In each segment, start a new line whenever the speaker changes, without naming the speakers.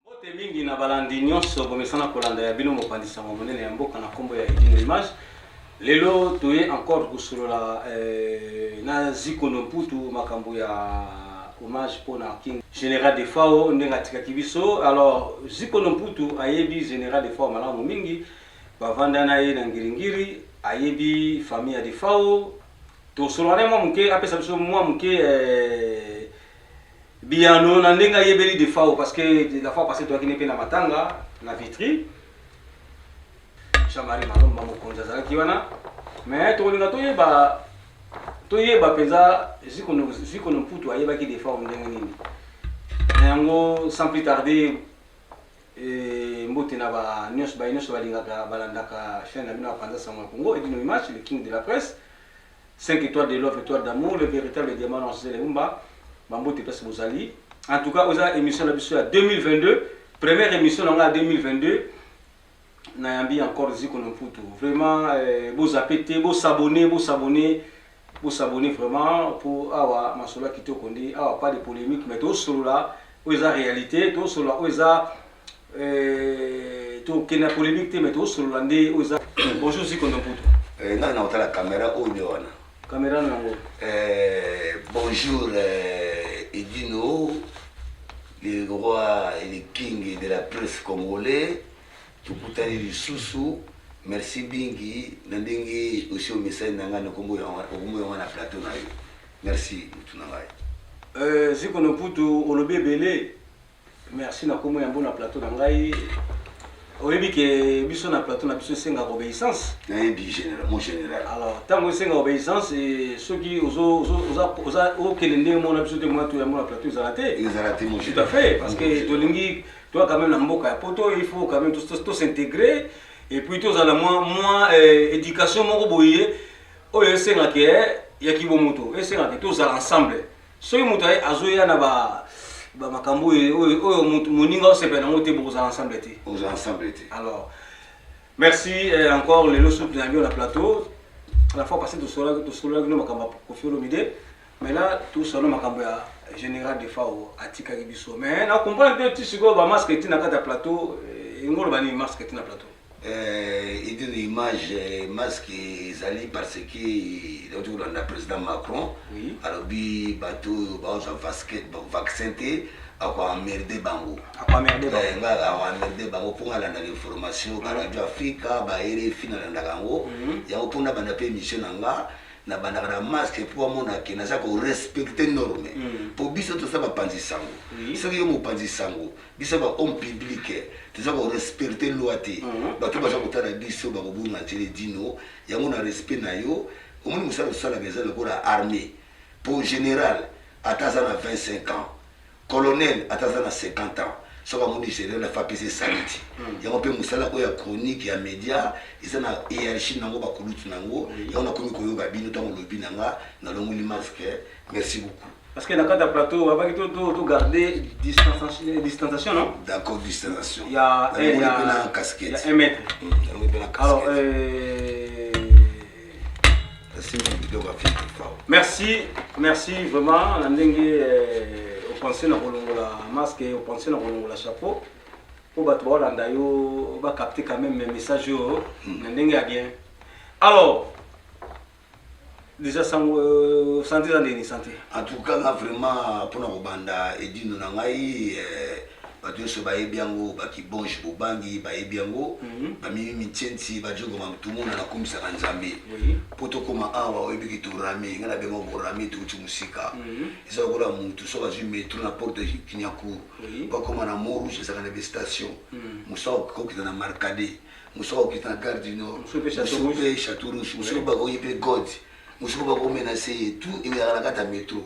Mbote mingi na balandi nyonso bomesana kolanda ya bino mopanzi sango monene ya mboka na nkombo ya Edino Image. Lelo toye encore kosolola eh, na Zikono Mputu makambo ya hommage mpo na King General Defao ndenge atikaki biso. Alors Zikono Mputu ayebi General Defao malamu mingi, bavanda na ye na Ngiringiri, ayebi famille ya Defao Tosolola naye mwa moke apesa biso mwa moke eh, biyano na ndenge ayebeli Defao parce que la fois passée toyaki ne mpe na matanga na Vitry. Jean-Marie Malomba mokonzi azalaki wana mais tokolinga toyeba toyeba mpenza Zikono Mputu ayebaki Defao ndenge nini na yango sans plus tarder Eeh mbote na ba nionso baye nionso balingaka balandaka chaine na bino ya panza sango ya congo edino image le king de la presse cinq etoiles de love etoiles d'amour le veritable diamant noir zele humba ba mbote place bozali en tout cas oza emission na biso ya 2022 première emission na nga ya 2022 nayambi encore ziko na mputu vraiment eh, bozape te bosabone bosabone Bo s'abonner vraiment po awa masolo ya kitoko nde awa pas de polemique mais to solola oyo eza realite to solola oyo eza to kende na polemique te mais to solola nde oyo eza bonjour Ziko Ndomputu eh, ngai na otala camera
oyo nde wana camera na yango
eh,
bonjour eh, Edino le roi et le king de la presse congolais Tokutani lisusu merci mingi na ndenge osi omesani na ngai na kombo ya okombo ya wana plateau na yo merci mutu na ngai. Euh, Ziko no Putu,
olobi ebele. Merci na kombo ya mbo na plateau na ngai. Oyebi ke biso na plateau na biso esengaka obeissance. Nayebi general, mon
general. Alors, tango esenga
obeissance et soki ozo ozo oza oza okele ndenge mona biso te mona to ya mona plateau ezala te. Ezala te mon Tout à fait
parce que
tolingi Toi quand même na mboka ya poto il faut quand même tous s'intégrer et puis tozala mwa mwa euh, éducation moko boye oyo esengaka eh, ya kibomoto esengaka tozala ensemble soki moto azoya na ba bamakambo oyo moninga osepela nango te bokozala ensemble te okozala ensemble te alors merci eh, encore lelo soki nayangi yo na plateau la fois passé tosololaki no makambo ya kofi olomide Mais là tout solo makambo ya general defao atikaki biso mais na comprendre te ti sikoyo ba masque ti na kati ya plateau eh, elingi oloba nini masque ti na plateau eh,
idini image eh, masque ezali parce que nauti kolanda président macron oui. alobi bato oyo baozwa vaccin te akoamerde bango akoamerde eh, bango mpo nga alandaka information baradio afrika ba rfi nalandaka yango mhm. yango mpo nabanda mpe émission na nga na bandaka na masque po amona ke naza ko respecter norme po biso toza ba panzi sango soki yo mopanzi sango biso ba homme public toza ko respecter loi te batu baza kotala biso bako bunga nzele dino yango na respect na yo omoni musala osalaka eza lokola armee po general ata aza na 25 ans Colonel ata aza na 50 ans soki amoni general ya fapc esaliti yango mpe mosala oyo ya chronique ya media eza na hierarchie nango ba kulutu nango yango nakomi koyoka bino ntango olobi na nga nalongoli masque merci beaucoup Parce que na kati ya plateau
abaki to to to garder distanciation distanciation non d'accord distanciation
ya nalongoli
mpe na casquette
ya 1 mètre
nalongoli mpe na alors casquette euh, merci merci vraiment na ndenge eh, opense na kolongola masque opense na kolongola chapeau mpo bato baolanda yo bacapte quand même message oyo hmm. na ndenge ya bien alors déjà sango euh, santé eza ndeni santé en tout cas nga vraiment
mpona kobanda edino na ngai eh, Bato yonso bayebi yango, ba kibonge bobangi bayebi yango, ba mimi mintshentshi, ba djogo mamtumuna nakumisaka Nzambe po tokoma awa oyebi ke to rame, nga nabenga yango bo rame towuti mosika eza lokola mutu soki azui metro na porte de kiniakuru po akoma na mont rouge ezalaka na ba station mosusu akoki kokita na marcade mosusu akoki kokita na gare du nord mosusu pe chateau rouge mosusu pe bakoki pe god mosuku bako menace ye tout ezalaka na kati ya metro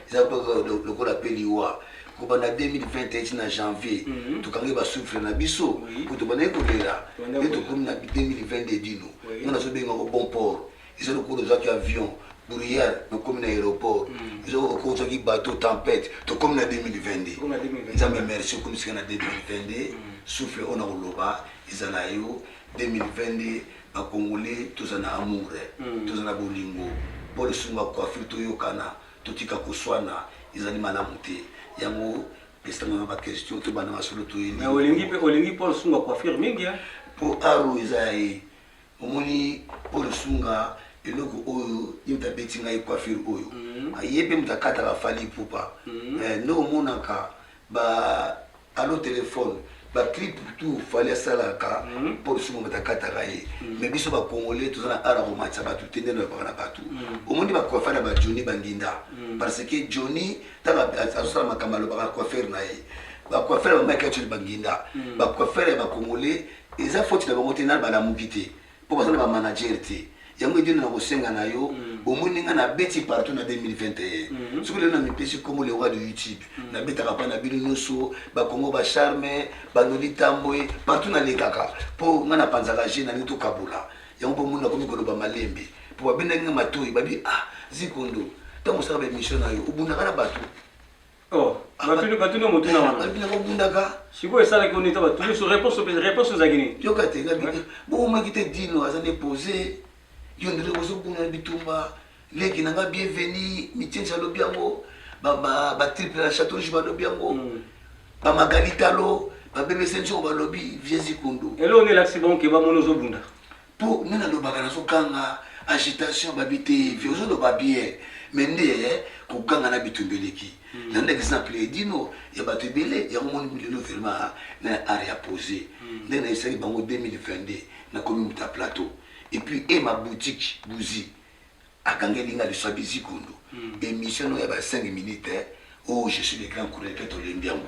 eza kaka lokola pe liwa kobanda 2021 ti na janvier mhm. tokangi basouffle na biso po tobandaki kolela nde tokomi na 2022 dino nga nazobengako bon port eza lokola ozwaki avion bruyere nakomi na aéroport mhm. eza lokola ozwaki bateau tempête tokomi na 2022 nzambe merci okomisika na 2022 mhm. souffle oyo na koloba eza na yo 2022 Ba congolais toza na amour toza na bolingo paul sunga coiffure toyokana totika koswana ezali malamu te yango pesa nga ba question tobanda masolo toye mais olingi pe olingi
paul sunga coiffure mingi hein po art oyo
eza ya ye omoni paul sunga eloko oyo ye mutu abeti ngai coiffure oyo ye pe mutu akataka fally ipupa mais nde omonaka ba allo telephone ba clip tout fallait asalaka mpo biso moto akataka ye me biso bacongolais toza na ara komatisa bato te nde nalobaka na bato omoni bacoiffer na bajoni bandinda parce que joni ntango azosala makambo alobaka coiffer na ye bacoiffer ya bamike acoli banginda bacoiffer ya bacongolais eza foti na bango te na balamuki te po baza na ba manager te yango edino na kosenga na yo omoni nga na beti partout na 2021 soki lelo na mipesi kombo le roi de youtube na betaka pa na bino nioso ba kongo ba charme ba noli tambwe partout na lekaka po nga na panzaka je na lingi to kabola yango po moni na komi koloba malembe po ba bendaki nga matoyi ba bi ah zikondo tango osaka ba emission na yo obundaka na batu Oh,
batuni batuni motuna wana. Balobi na kobundaka.
Sikoyo esalaki oni ta
batuni so réponse opesa réponse ezalaki nini? Yoka te na bite.
Bokomaki te dino aza nde pose. Yo ndele kozobunda na bitumba. Leki na nga bienvenue, mitiensi alobi yango. Ba ba ba triple na chateau rouge balobi yango. Mm. Ba magalitalo, ba bebe senso balobi vieux Zikundu. Elongi elakisi bango ke
bamoni ozobunda. Po nga nalobaka
nazo ganga agitation babi te vie ozo loba bien mais nde ko ganga na bitumba eleki na nde exemple edino ya batu ebele yango moni lelo vraiment na art ya pose nde na esaki bango 2022 na komi muta plateau et puis et ma boutique bouzi Akangeli nga liso abi zigundu emission no ya ba cinq minutes oh je suis le grand chroniqueur tolembi yango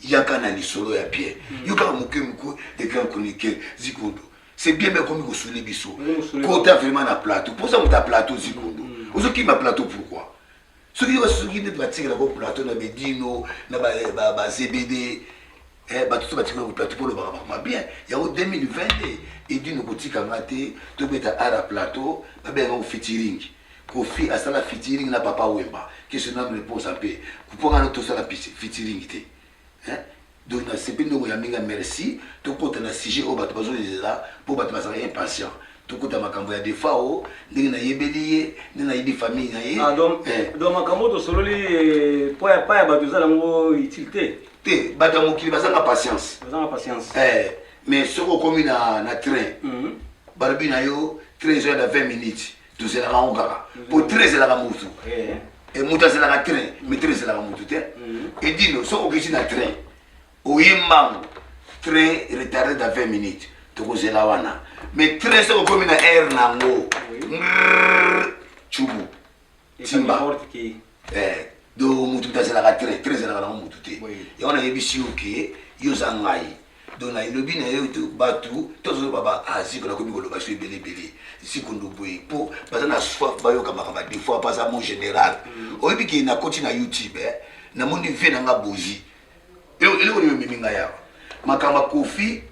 yaka na lisolo ya bien yo kaka muke muke le grand chroniqueur zigundu c'est bien mais okomi kosuli biso kota vraiment na plateau poza moto ya plateau zigundu ozokima plateau pourquoi soki basuki nde batikela ko plateau na bedino na bazebd eh, bato so batikela ko plateau mpo lobaka bakoma bien yango 2020 nde edino kotika nga te tobeta ara plateau babenga ngo fitiring kofi asala fitiring na papa wemba kesi nanu reponsa mpe mpo nga no tosala fitiring te Hein? Donc na sepeli ndenge oyambi nga merci. Tokota na sujet oyo bato bazozela mpo bato bazalaka impatient. Tokota makambo ya Defao, ndenge nayebeli ye, ndenge nayebi famille na ye. Ah donc, eh. donc
makambo oyo tosololi mpo ya pa ya bato eza nango utile te? Te, bato ya mokili
bazanga patience. Bazanga patience. Eh, mais soki okomi na, na train, mm -hmm. balobi na yo train ezoya na 20 minutes. tozelaka yango kaka po train ezelaka mutu e mutu azelaka train mi train ezelaka mutu te edino soki okiti na train oye mbangu train retarde da 20 minutes tokozela wana mais train soki okomi na aire na yango cubu timba eh, do mutu mutu azalaka tre tre ezalaka nango mutu te yango nayebisi yo ke yo oza ngai do na elobi na yo bato tozoloba ba ah, ziko nakomi koloba so ebele ebele ziko ndoboye mpo baza na soif bayoka makambo ya defois mpo aza mon général mm. oyebi ke nakoti na youtube eh, namoni vie na nga bozi eloko nini omemi ngai awa makambo ya kofi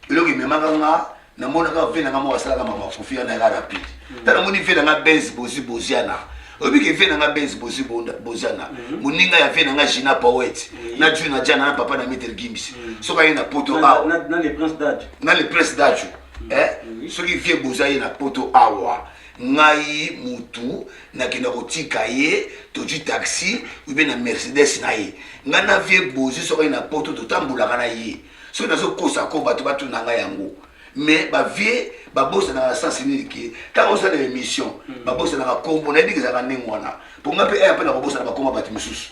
eloko ememaka nga namonaka ve na nga moko asalaka mama kofi wana yaka rapide hmm. ta namoni ve na nga benz bozi boziana oyebi ke ve na nga benz bozi boziana hmm. moninga ya ve na nga gina powet hmm. na juna jana na papa na meter gims soki aye na poto awa
na le prince dajo eh? soki
vie bozi aye na poto awa ngai mutu nakenda kotika ye tozwi taxi obe na mercedes na ye ngai na vie bozi soki na poto totambolaka na ye soki nazokosa ko bato batuna ngai yango mais bavie babosanaka na sens nini ke ntango osala émission hmm. babosanaka nkombo nayebi ezalaka ndenge wana mpo ngai mpe aya mpe nakobosana bakoma bato mosusu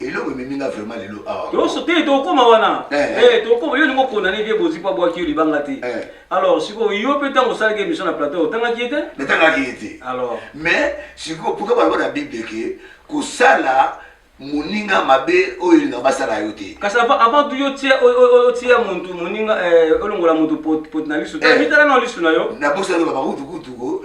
eloko ememi nga vraiment lelo awa toyoso te tokoma
wana eh, eh. Eh, tokoma yo olingi okondane vie bozi mpo abwaki yo libanga te alors sikoyo yo mpe ntango osalaki émission na plateau otangaki ye te natangaki ye te
alors mais sikoyo pourka baloba na bible ke kosala moninga mabe oyo elinga basala yo te kasi avant
tu otia muntu moninga olongola
muntu
poti
na lisu
mitala
na
lisu na yo nabosani babakutukutuko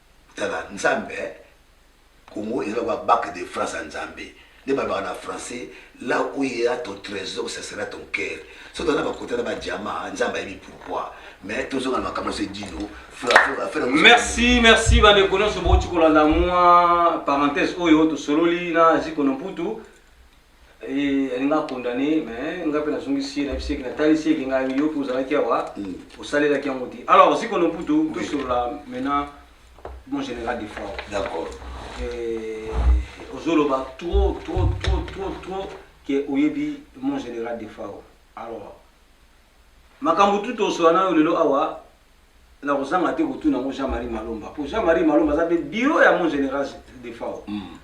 Tala nzambe eh Congo eza lokola bac de France ya nzambe nde balobaka na français là où il ya ton tresor ce sera ton coeur soki toza na ba cote na ba diamant nzambe ayebi pourquoi mais tozonga na makambo nyonso edino merci
merci bandeko nyonso bouti kolanda mwa parenthèse oyo tosololi na ziko na mputu Eh, alinga akondane me nga mpe nazongisi ye nayebisi eke natalisi eke ngai yo mpe ozalaki awa mm. osalelaki yango te alors sikono mputu tosolola maintenant mon général de fort d'accord
eh,
ozoloba trop trop trop trop trop ke oyebi mon général de fort alors makambo tu tosolola nayo lelo awa nakozanga te kotuna yango jean marie malomba mpo jean marie malomba aza mpe biro ya mon général de fort mm.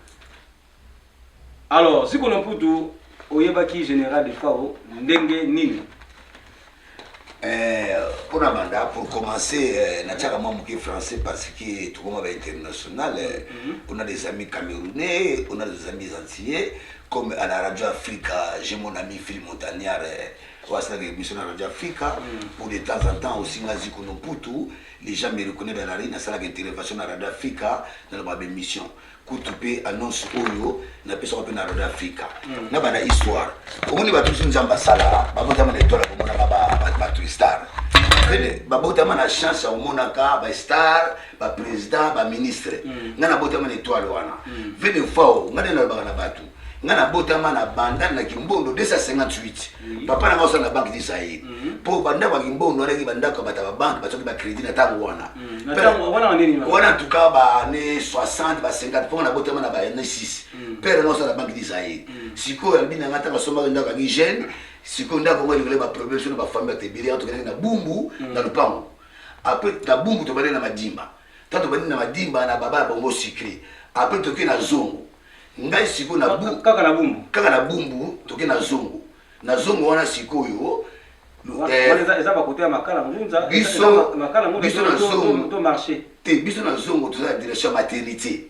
Alors, Ziko na Mputu, oyebaki General Defao ndenge nini? Eh,
mpo na banda pour commencer eh, natiaka mwa moke français parce que tokoma ba international eh, mhm. on a des amis camerounais on a des amis antillais comme à la radio africa j'ai mon ami phil montagnard oyo asalaka émission na radio africa mhm. pour de temps en temps aussi nga ziko no putu les gens me reconnaît dans la rue nasalaka intervention na radio africa naloba baémission kutu mpe annonce oyo napesaka mpe na radio afrika na bana histoire omoni bato biso nzambe asalaka babotama na etoile komonaka bato star babotama na chance ya komonaka bastar baprésident baministre mm. ngai nabotama na etoile wana vede mm. fao ngai nde nalobaka na bato ngai nabotama na banda na kimbondo 258 papa na ngai osala na banque du zaire mpo mhm. bandako ya kimbondo wana eki bandako ya bato ya babanke basoki bacrédit na ntango wana mhm. wana tuka baane 60 ba 50 mpo na botama na baane 6 pere na osala na banque du zaire mhm. sikoyo alobi na ngai ntango asombaki ndako yangi jeune sikoyo ndako yango elingola baproblème so na bafamille batebele yango tokendaki na bumbu na lopango apres na bumbu tobandaki na madimba ta tobandi na madimba na baba ya bongo sucre apres toke na zongo ngai sikoyo na bu kaka na bumbu kaka na
bumbu toke na zongo
na zongo wana sikoyo
biso na zongo te biso na zongo
toza na direction ya maternité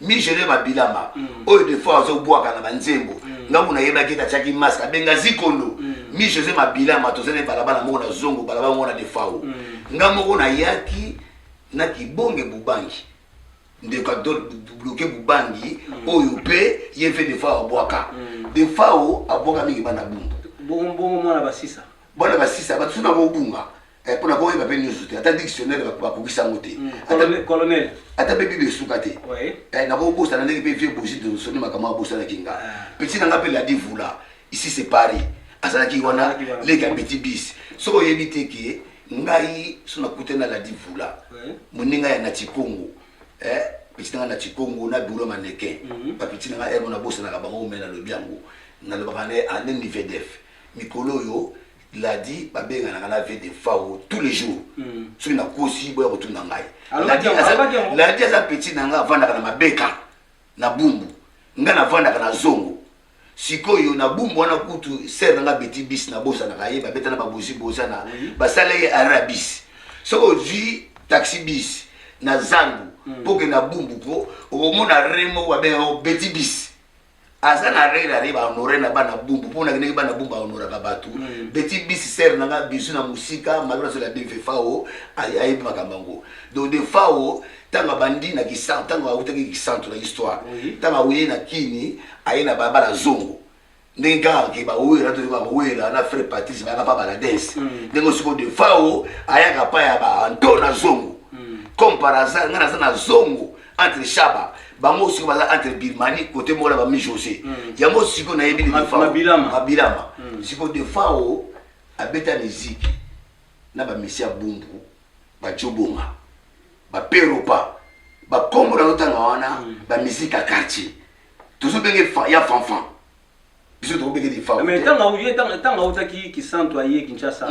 migele mabilama mm. oyo defo azobwaka na banzembo mm. ngambo nayebaki ete atiaki maske abenga zikondo mm. mi josé mabilama toza na balabala moko na zongo balabala moko na defao nga moko nayaki na kibonge bubangi ndeko adobloke bubangi oyo mpe ye mpe defao abwaka defao abwaka mingi bana bumbu
bana basisa bato suna
kobunga Eh, mpo na boyeba mpe nyonso te ata dictionnaire bakokisa yango te hmm, colonel
ata mpe bible
esuka te eh, nakobosana ndenge mpe vieux bosi donsoni makambo abosanaki nga ah. petit na nga mpe ladi vula ici c'est paris azalaki wana leki ya petit bis soki oyebi te ke ngai so nakutani na ladi vula moninga ya nati congo eh, petit na nga nati congo na biro maneke mhm. bapeti na nga emo nabosanaka bango me nalobi yango nalobaka ne ane nivedef mikolo oyo Ladi babenganaka na vie de fao tous les jours soki nakosi boya kotuna ngai Alobaki yango, alobaki yango. ladi aza petit na ngai avandaka na mabeka na bumbu ngai navandaka na zongo sikoyo na bumbu wana kutu sere na ngai beti bis nabosanaka ye babeta na babozi boza na basala ye ara ya bis soki ozwi taxi bis na zandu mpo okende na bumbu ko okomona re moko babengaka yango beti bis aza na rela re bahonore na bana bumbu mpo nakendeki bana bumbu ahonoraka bato mm. beti bisi sere na nga bisu na mosika malona sola bive fao ayebi makambo yango donc de fao ntango abandi na kisantu ntango autaki kisantu na histoire ntango aye na kini aye na balabala zongo ndenge kaka ke bawera toyoka bawera na frère patrice bayaka mpa baladese mm. ndenge osiko de fao ayaka mpa ya baanto na zongo mm. comme par hasard ngai naza na zongo entre shaba bango siko baza entre birmanie kote moko na bami josé mm. yango siko nayebi mabilama mm. siko defao abeta miziki na bamisi ya bumbu bajobonga baperopa bakombo na lotanga wana mm. bamiziki ya quartier tozobenge ya fanfan biso tokobenge defao ntango
autaki kisantu aye kinshasa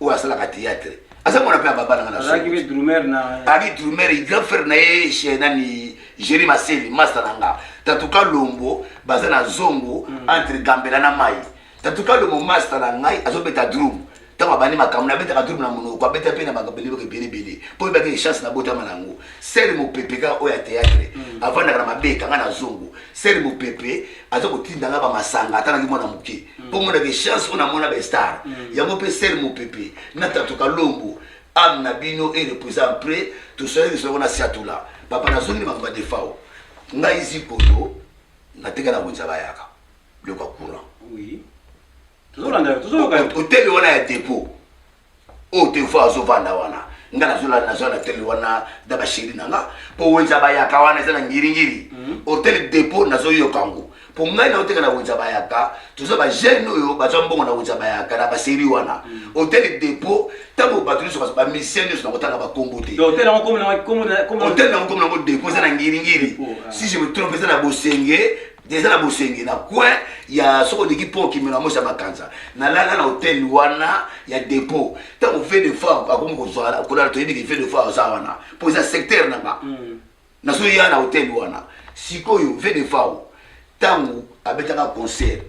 oyo asalaka théâtre aza mwana mpe ababa nanga nazalaki mpe drumer na
abi drumer grand
frère na ye chez nani géri maseli masta na nga tatuka lombo baza na zongo mm. entre gambela na mai tatuka lombo masta na ngai azobeta drum ntango abandi makambo nabetaka drum na monoko abeta mpe na bakabelebaka ebele ebele mpo oyebaki echance nabotama na yango sere mopepe kaka oyo ya théâtre mm. avandaka na mabeka ngai na zongo sere mopepe aza kotinda ngai bamasanga ata naki mwana moke mpo mona ke chance oyo namona bestar mm. yango mpe ser mopepe na tato kalombo ame na bino e repose en près tosolaki lisoko na siatula papa nazongi na makambo ya defao ngai zikoyo nateka na wenza bayaka biloko ya courant
otele wana
ya depot oyo te fois azovanda wana nga nazolala nazoya na tele wana na basheri na nga mpo wenza bayaka wana eza na ngiringiri mhm. hotel depot nazoyoka yango mpo ngai naoteka na wenza bayaka toza bajeune oyo bazwa mbongo na wenza bayaka na baseri wana mhm. hotel depot ntango bato nyonso bamisien nyonso nakotanga bakombo te
hotel
nango komi nango depot eza na ngiringiri si je me trompe eza na bosenge deja na bosenge na coin ya soko oleki mpo okimela mosi ya makanza nalala na hotel wana ya depot ntango ve de fa akomi kozwala kolala toyebi ke ve de fa aza wana mpo eza secteur na nga mm. nazoya na hotel wana sikoyo ve de fa ntango abetaka concert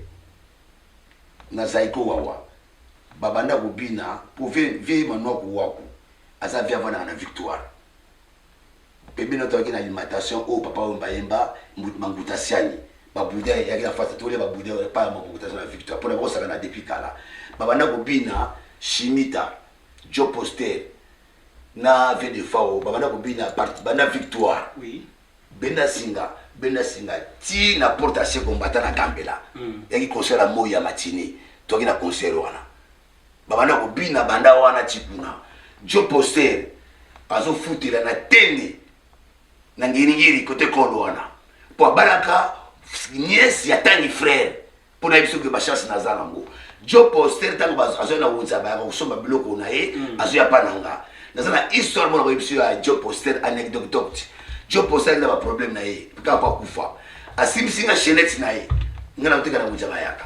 na zaiko wawa babanda kobina mpo ve manwaku waku aza ve avandaka na victoire Pembeni na tozalaki na alimentation oyo papa oyo mbayemba Mbu- Manguta Siani ba boudin eyaki na fasi tolia ba boudin epai ya Manguta Siani na Victoire mpo na bakosakana depuis kala babanda kobina Shimita Joe Poster na Vieux Defao babanda kobina part banda Victoire Oui.
benda singa
benda singa ti na porte ya se kombata na gambela yaki concert ya moi ya matini toyaki na concert wana babanda kobina banda wana tikuna jo poster azofutela na tende na ngiringiri kote kolo wana mpo abalaka niese ya tani frere mpo nayebi soki bachance naza nango jo poster ntango azwai na wunza bayaka kosomba biloko na ye mm. azwya mpa na nga naza na histoire mona koyebi biso ya jo poster anecdote jo poster alina baproblème na ye kaka mpo akufa asimbisi nga chenete na ye nga na koteka na wunza bayaka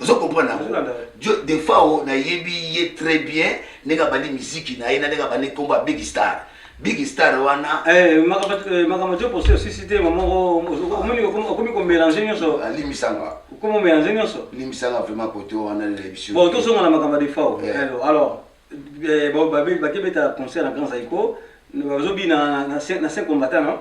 ozo comprendre yango jo defao nayebi ye très bien ndenge abandi miziki na ye na ndenge abandi nkombo ya big star big star wana eh, eh,
makambo jo posi osisi te mamoko omoni okomi komelange nyonso alimisanga ah, okomi
omelange nyonso
limisanga vraiment kote
wana lelebisi bon tozonga na makambo ya
defao eh. alors bakebeta concert na grand zaiko bazobina na cinq combattant non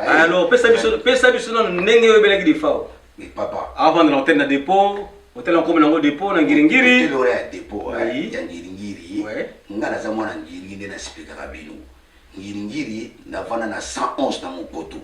Alors, pesa biso
pesa biso na ndenge yo belaki de fao. Mais papa. Avant
de l'antenne na
dépôt, hôtel en commun de dépôt na ngiringiri. Hôtel ya dépôt hein,
oui. ya ngiringiri. Ouais. Nga na za mwana ngiringiri na spika kabino. Ngiringiri na vana na 111 na Mokoto.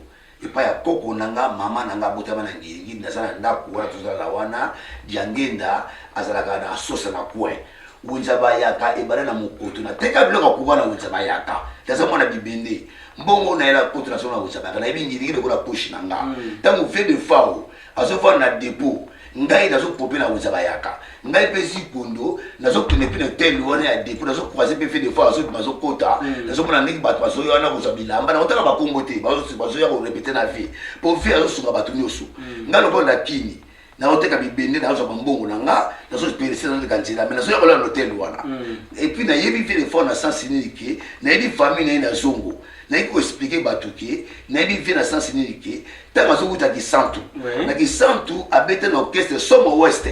epai ya koko na nga mama na nga abotama na ngirigiri naza na ndako wana tozalaka wana diangenda azalaka na asosa na coin wenza bayaka ebanda na mokoto nateka biloko ya kuba na wenza bayaka naza mwana bibende mbongo nayela koto na solo na wenza bayaka nayebi ngirigiri lokola poshi na nga ntango vie de fao azofanda na depot ngai nazopope na wenza bayaka ngai mpe zipondo nazokende mpe na hotel wana ya depo nazokroise mpe fe defois azoki bazokota mm. nazomona ndenge bato bazoya wana kozwa bilamba nakotala bakombo te bazoya korepete na vie mpo vie azosunga bato nyonso mm. ngai lokola na kini naoteka bibende nazwa bambongo na nga nazoperese nazoleka nzela me nazoya kolala na hotel wana mm. epuis nayebi vie defort na sens nini ke nayebi famille na ye na zongo Naye ko expliquer batu que nayebi vie na sens nini que tango azo wuta kisantu na kisantu abeta na orchestre somo west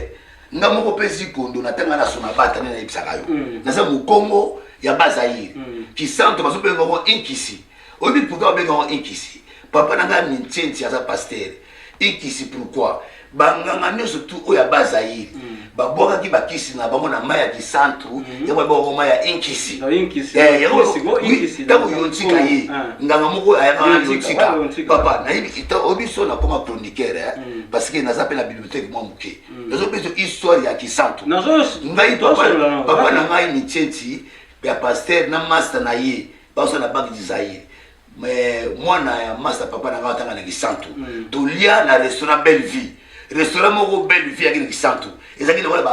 nga moko pe zikondo na tanga na sona bata nde nayebisaka yo mm. naza mokongo ya bazaire mm. kisantu bazo benga ngo inkisi oyebi pourquoi babenga ngo inkisi papa na ngai mintienti aza pastere Ekisi pourquoi banganga nyonso tu oyo ya bas Zaïre mm. babwakaki bakisi na bango na mai ya kisantu mm. yango babwaka mai ya inkisi ntango yontika ye nganga moko ayaka na yontika papa nayebi kitoko biso nakoma chroniquere eh. mm. parce que naza mpe na bibliothèque mwa moke nazopesa histoire ya kisantu ngai papa na ngai mitieti ya paster na masta na ye baosa na banque du Zaïre mais mwana ya masa papa na ngai atanga na kisantu mm. tolia na restaurant belle vie restaurant moko belle vie yaki na kisantu ezalaki lokola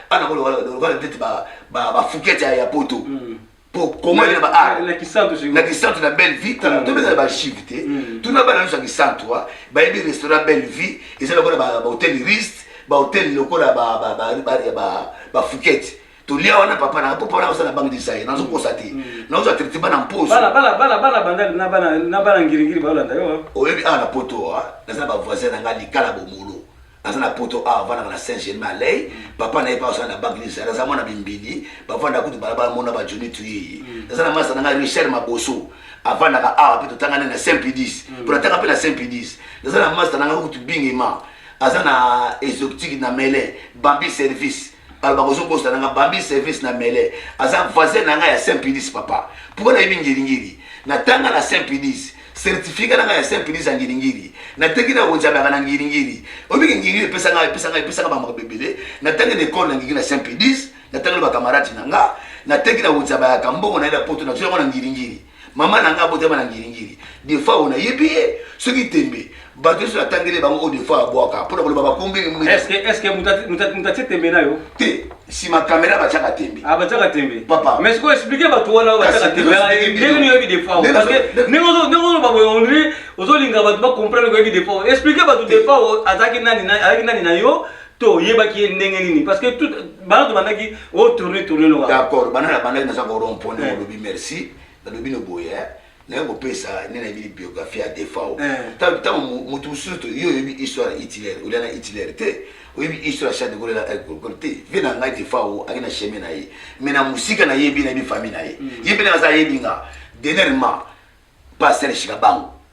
bana lokola ndeti bafukete ya poto mm. po kongo ena baarna
kisantu na
belle vie mm. tobeza na bachive te tuna bana nyonso ya kisantu bayebi restaurant belle vie eza lokola bahotel riste bahotel lokola bafukete tolia wana papa na papa na osala bangi design nazo kosa te na ozo traiter bana mposo bana bana bana bana banda
na bana na bana ngiri ngiri ba landa yo oyebi a na poto a
naza ba voisin na nga likala bomolo aza na poto a vana na Saint Germain lay papa na ye pa osala na bangi design naza mwana bimbili ba vanda kutu bala bala mona ba Johnny tuyi naza na masa na nga Richard Maboso avandaka awa mpe totangani na saint pidis mpo natanga mpe na saint pidis naza na masta na nga kutu bingima aza na exotique na mele bambi service aloba kozo bosana nga bambi service na mele aza voisin na nga ya saint pidis papa pourquoi nayebi ngiringiri natanga na saint pidis certificat na nga ya saint pidis ya ngiringiri nateki na wenzamaka na ngiringiri obiki ngiringiri epesa nga epesa nga epesa nga bamaka bebele natangi na ekole na ngigi na saint pidis natangi na bakamarati na nga nateki na wenzamaka mbongo na ye na poto nazwi yango na ngiringiri mama na ngai abotama na ngiringiri defa oyo nayebi ye soki tembe bato nyonso natangeli bango oyo defa abwaka mpo na koloba bakombelimutatye
tembe na yo te nsima
kamera batyaka tembe ah, batyaka tembe papa
mais sikoyo explike
bato
wana batyaka tembe ah, eh, ndenge nini oyebi defa oyo parce que ndenge ozoloba boye ondire ozolinga bato bacomprendre koyebi defa oyo explike bato defa oyo azalaki nani na yo to oyebaki ye ndenge nini parce que tout bana tobandaki o tourne tourne loka d'accord bana nabandaki
naza ko rond point na olobi merci nalobi no boye naye kopesa nde nayebi biographie ya defao ntango motu mosusu yo oyebi histoire ya hitler olia na hitler te oyebi histoire ya chade kolela agriculture te vie na ngai defao aye na cheme na ye mai na mosika nayebi nayebi famille na ye ye mpe naza ayebi nga dernièrement pasteur shikabango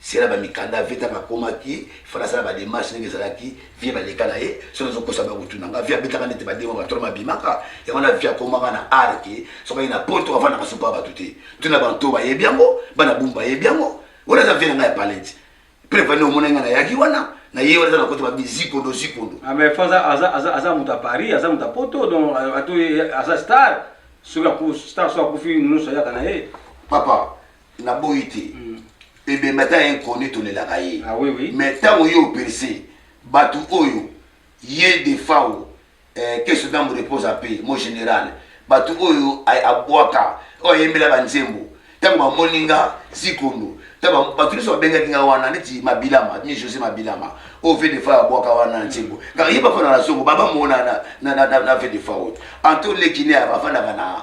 Se na ba mikanda vie tango akomaki il fallait asala ba demarche ndenge ezalaki vie ba leka na ye soki nazo kosa ba kotuna nga vie abetaka nde te ba demo ba tolo ma bimaka yango wana vie akomaka na art ke soki aye na poto avandaka supa ya batu te tuna ba nto ba yebi yango bana bumbu ba yebi yango wana eza vie na nga ya palette preuve nde omona nga na yaki wana na ye wana eza na kote ba bizikondo zikondo Ah, mais faut aza aza
aza aza moto ya Paris, aza moto ya Poto, donc euh, ato aza star. Soki aku star soki akufi nyonso ayaka na ye. papa
naboyi te mm. ebembe ata ya inconnu tolelaka ye ah, oui, oui. mais ntango
ye operse
bato oyo ye defao eh, que ce dame repose en paix mon général bato oyo abwaka oyo ayembela banzembo ntango bamoni nga zikondo bato nyonso babengaki nga wana neti mabilama mi josé mabilama oyo oh, vedefa abwaka wana nzembo kaka ye bafanda na zongo baba mona na vedefa oyo anto lekine afandaka na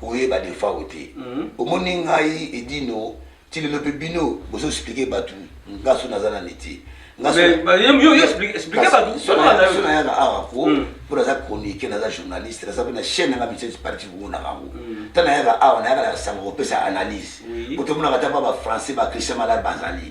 Koyeba Defao te omoni ngai et Dino ti lelo pe bino bozo explique batu nga so naza na metier
nga so naya na
awa ko po naza chroniquer naza journaliste naza pe na chaine nanga metier parti bomonaka yango ta nayaka awa nayaka na sango kopesa analyse po tomonaka ta ba ba français ba Christian Malade bazali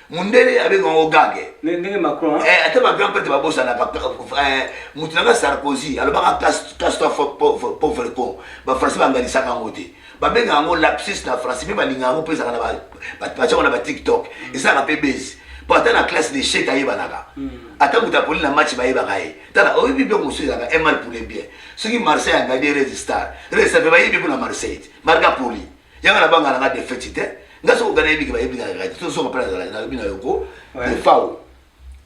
mundele abenga yango gage ndenge macron hein?
eh, ata bagrand prêtre
babosanaka eh, moto nanga sarkozy alobaka castoi pauvre con bafrançais banganisaka yango te babenga yango lapsus na français mpe balinga yango mpe ezalaka na batiango na batiktok ezalaka mpe base mpo ata na classe de chete ayebanaka hmm. ata moto apoli na match bayebaka ye tala oyebi biloko mosusu ezalaka emal pour le bien soki marseille angadi rese star rese mpe bayebi mpo na marseille te marga poli yanga na banga na nga defeti te nga soko gana yebiki ba yebiki na gana to soko pala zala na bina yoko de fao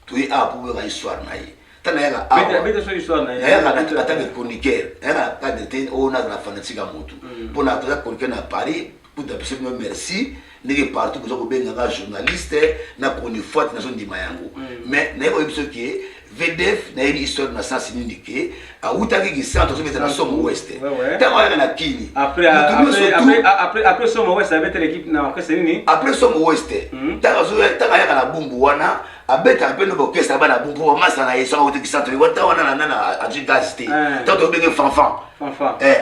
to yi a pour ga histoire na yi tana yanga a beta beta so histoire na yi yanga na ata de chroniqueur yanga ka de te o na na fanatique a moto mm. pona to ya chroniqueur na Paris pour ta pese merci ndenge partout boza kobenga nga journaliste na chronifuati nazondima yango mm. mais nayebi oyebi soki VDF nayebi histoire na sens nini ke awutaki kisanto azobeta na somo west ntango ayaka na kini après
somo west abetela ekipe na orchestre nini après somo west
ntango hmm. ayaka na bumbu wana abetaka mpe noba orchestre aba na bumbu mpo bamasa na ye soki awuti kisanto liwa ntango wana na nana azwi gaz te ntango tobenge fanfan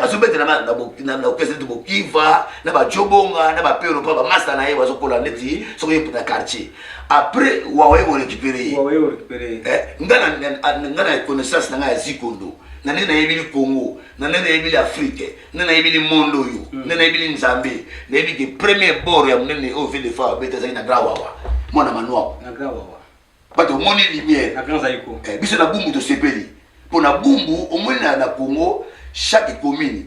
azobetela na orchestre neti bokiva na bajobonga na bapero mpo bamasa na ye bazokola neti soki na quartier après wawaye ko récupérer ye wawaye ko récupérer ye eh nga na nga na connaissance na nga ya zikondo na nde nayebili congo na nde nayebili afrique nde nayebili monde oyo mm. nde nayebili nzambe nayebi ke premier bord ya monene oyo ville de fa abeta ezalaki na grand wawa mwana manuaku bato omoni lumière eh, biso na bumbu tosepeli mpo na bumbu omoni na congo chaque commune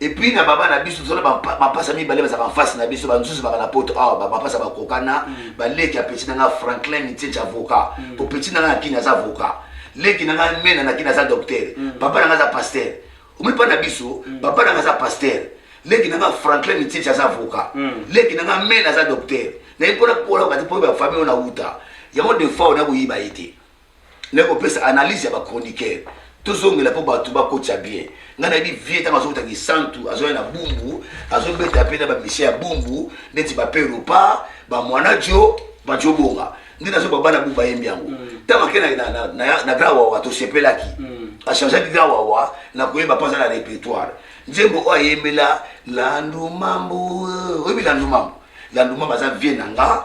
Et puis na
baba na biso tozala bapasa mibale bazalaka mfasi na biso bamosusu baka na poto awa bapasa bakokana mm. baleki ya peti na nga franklin nitieti avocat mm. po peti na nga na kini aza avocat leki na nga mena na kini aza docteur mm. papa na nga aza pasteur omoni mpa na biso papa na nga aza pasteur leki na nga franklin nitieti aza avocat leki na nga mena aza docteur naye mpona kola kati mpo bafamille oyo na wuta yango defoa onakoyiba ye te naye kopesa analyse ya ba chroniqueur tozongela mpo bato bakotisa bien ngai nayebi vie ntango azokota kisantu azoya na bumbu azobeta mpe na bamisie ya bumbu neti bape europa bamwana jo bajobonga nde nazoba bana bu bayembi yango ntango mm. ake na, na, na, na grand wawa tosepelaki mm. achangeaki grand wawa na koyemba mpo aza na répertoire nzembo oyo ayembela landumambu oyebi landumambu landumambu aza vie na nga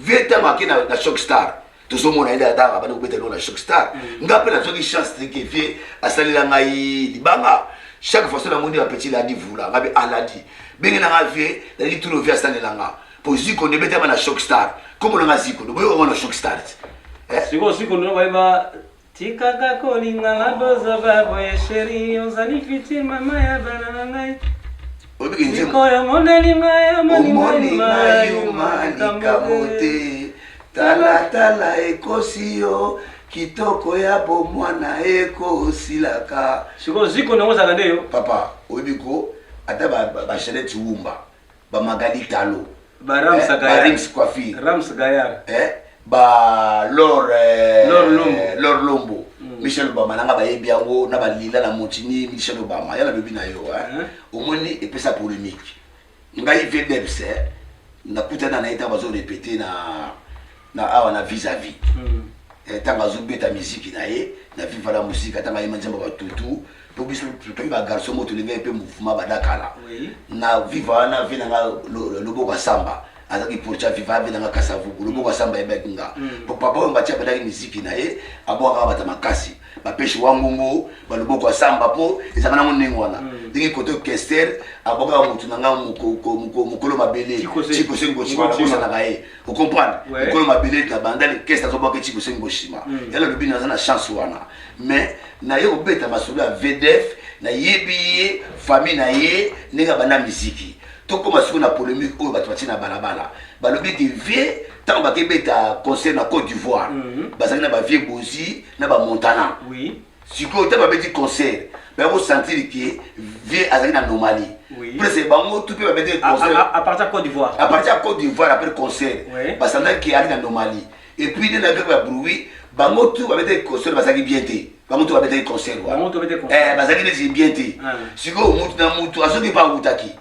vieux ntango ake na, na choc star tozomona ye dada abandi kobeta eloko na choc star mm. nga mpe nazwaki chance te ke vieux asalela ngai libanga chaque fois so namoni bapeti ladi vula nga mpe aladi ah, benge na nga vieux naliki tuno vieux asalela nga mpo ziko nde ebetama na choc star komona nga ziko nde boyoka ngo na choc star te eh? sikoyo ziko
nde bayeba Tikaka kolinga na bozoba boye cherie ozali piti mama ya bana na ngai sikoyo omoneli ngai omonimaimakambo
te talatala ekosi yo kitoko ya bomwana ekosilaka sikoyo ziko nango
ozalaka nde yo papa oyebi ko
ata bachanete wumba ba magali talo ba rams eh, gayar
ba rams coiffi rams
gayar
eh ba
lor eh, lor lombo lor lombo mm. michel obama nanga bayebi yango na balila na montini michel obama yala lobi na yo eh. eh. omoni epesa polemique ngai vdebs eh, nakutana na ye ntango bazo repete na na awa na vis à vis eh, ntango azobeta miziki na ye na viva la musika ntango ayema nzembo batutu mpo biso totoki bagarçon mo tolingaki mpe mouvement badakala na viva wana vi na nga loboko asamba azalaki portia viva vi na nga kasavuku loboko asamba ebaki nga mpo papa oyo mbatia abetaki miziki na ye abwakaka bata makasi bapeshi wangongo baloboko asamba mpo ezalaka nango ndenge wana ndenge koto kester abwakaka motu na nga mokolo mabele cikosengoci wana bosanaka ye okomprendre ekolo mabele ete abanda lekese azobwaka eci bosengi bosima mm. yala alobi naza na chance wana mais naye kobeta masolo ya vdf nayebi ye famille na ye ndenge abanda miziki tokóma sikoyo na polémique oyo bato batie na balabala balobi ete vie ntango bakebeta concert na côte d'ivoire mhm. bazalaki na bavie bozi na bamontana Sikoyo
ntango babeti
concert baya kosentir ke vieux azali na anomalie prese bango tu mpe babeteli concertapartir
ya cote d'ivoire apres
concert basantaki ke ali na anomalie epuis nde nayoki ya bruit bango tu babeteli concert bazalaki bien te bango tu babetaki concert wana eh, bazalaki neti bien te ah. sikoyo mutu na mutu azoki mpe awutaki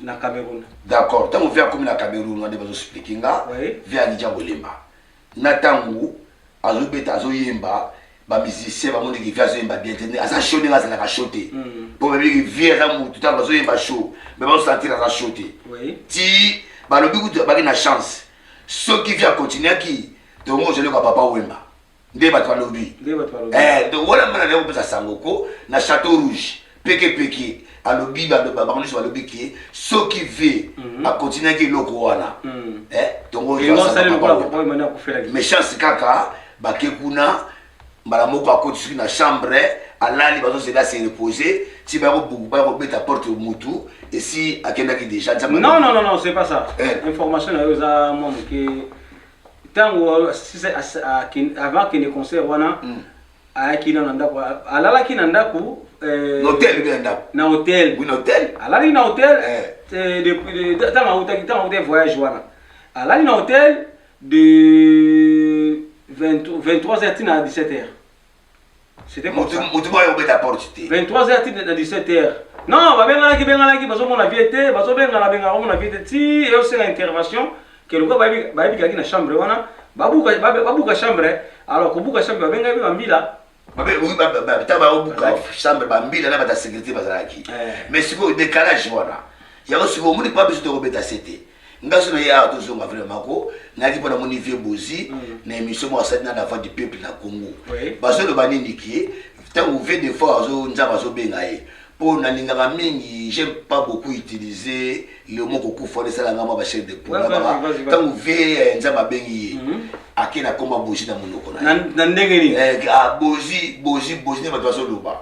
na Cameroun. D'accord, ntango vie akomi
na Cameroun wana bazo expliquer nga oui. vie alija kolemba na ntango azobeta azoyemba ba musicien bamoni ki vie azoyemba bien te aza show ndenge azalaka show te mm. mpo bayebi ki vie aza motu ntango bazoyemba show me bazosentir aza show te ti balobi kutu baki na chance soki vie akontinuaki tongo ozoleka papa wemba nde bato balobi eh, donc wana mwana naye kopesa sango ko na chateau rouge pekepeke alobi bango nyonso balobi ke soki ve mhm. akontinuaki eloko wana mhm. eh, tongoméchance kaka bake kuna mbala moko akoti soki na chambre alali bazozela se repose ti bayakobaya kobeta porte mutu esi akendaki déjà non non non non c'est pas ça
eh. information na yo eza mwa moke tango avant akende concert wana mm. ayaki na ndako alalaki na ndako euh, na hotel bien
ndako na hotel oui na hotel
alalaki
na hotel eh.
euh, depuis tango awutaki tango awutaki voyage wana alali na hotel de 23h tina 17h C'était comme ça. Mutu boy obeta porte te. 23h ti na 17h. Non, ba benga ki benga ki bazo mona vie te, bazo benga na benga mona vie te. Ti et aussi l'intervention que le ba bi ba bi kaki na chambre wana. Ba buka ba buka chambre. Alors ko buka chambre ba benga bi ba mbila. babe oyo bata baobuka
chambre bambila na bata sécurité bazalaki mais sikoyo décalage wana yango sikoyo omoni mpa biso tokobeta se te nga so naye awa tozonga vraiment ko nayaki mpo namoni vie bozi mm. na émission moko asali na la voix du peuple na congo bazoloba nini kie ntango vie de fois azo nzambe azobenga ye mpo nalingaka mingi j'aime pas beaucoup utiliser le mot kokufa wana esala nga mwa bachef de pola ntango vie eh, nzambe abengi ye mm-hmm. ake na koma bozi na monoko na ye na ndenge nini
eh, ah,
bozi
bozi bozi
nde bato bazoloba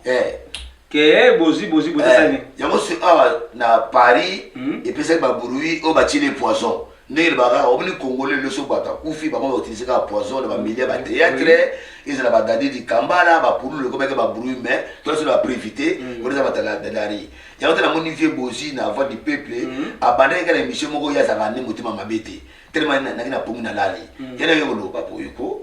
eh. Kee bozi bozi bozi asali nini? Eh, yango si awa ah,
na Paris hmm? epesaki ba bruit oyo batieli poison ndenge elobaka omoni congolais lelo so bato akufi bango bautilize kaka poison na bamilia ba théâtre ezala badadi likambala bapululu ekomaki babruit mai toasi na baprevite mm. oeza batadadari yango te namoni vie bozi na voix du peuple mm. abandaki kaka na émission moko ye azalaka nde motema mabe te telema naki na pongi na lali mm. yana ye koloba boyeko